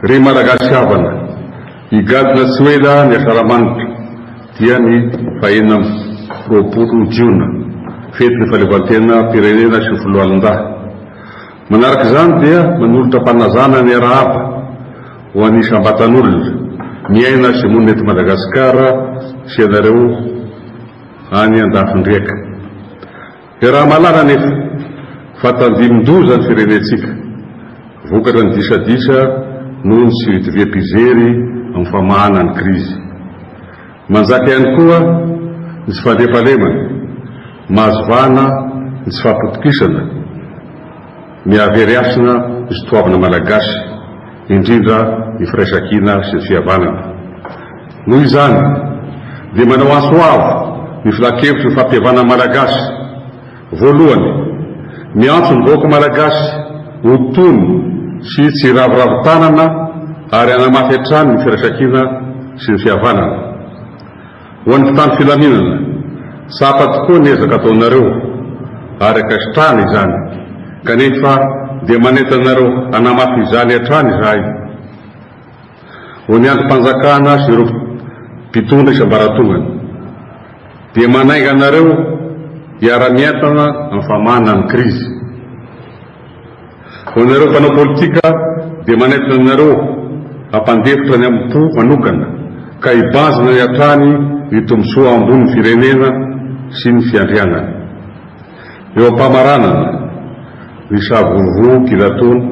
Ry Malagasy havana, higadona tsy ho ela ny Asaramanitra, dia ny fahenina amby roapolo jiona, fetin'ny fahaleovantenam-pirenena sy foloalindahy. Manaraka izany dia manolotra am-panazana ny arahaba ho an'ny isam-batan'olona miaina sy monina eto Madagasikara sy ianareo any an-dafin-driaka. Iaraha-mahalala anefa fa tandindoza ny firenentsika vokatra ny disadisa noho ny tsy fitoviam-pijery amin'ny famahana ny krizy. Manjaka ihany koa ny tsy fandriampahalemana. Mahazo vahana ny tsy fahatokisana ny havery hasina misy toavina malagasy, indrindra ny firaisankina sy ny fihavanana. Noho izany dia manao antso avo ny Filankevitry ny fampihavanana malagasy, voalohany, miantso ny vahoaka malagasy ho tony sy tsy hiraviravy tanana ary hanamafy hatrany ny firaisankina sy ny fihavanana. Ho an'ny mpitandro filaminana, tsapa tokoa ny ezaka ataonareo ary ankasitrahana izany, kanefa dia manentana anareo hanamafy izany hatrany izahay. Ho ny andrim-panjakana sy ireo mpitondra isam-baratongany, dia manainga anareo hiara-mientana amin'ny famanana ny krizy. Ho anareo mpanao politika dia manaitra anareo hampandefitra ny amin'ny po manokana ka hibanjina ny hatrany ny tombontsoa ambon'ny firenena sy ny fiandrianany. Eo am-pamaranana ny savorovoro kilatoana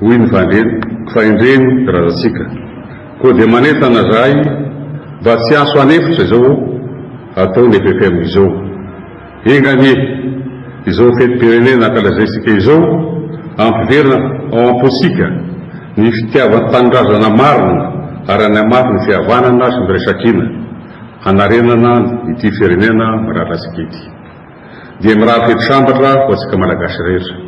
hoy ny fandreny fa endreny razantsika. Koa dia manentana zahay mba tsy anso an'efitra izao ataon'ny FFM izao. Enga anie, izao fetim-pirenena ankalazaintsika izao, ampiverina ao am-pontsika ny fitiavan-tanindrazana marina ary hanamafy ny fihavanana sy ny firaisankina, hanarenana ity firenena mirary antsika ity. Dia mirary fety sambatra ho antsika Malagasy rehetra.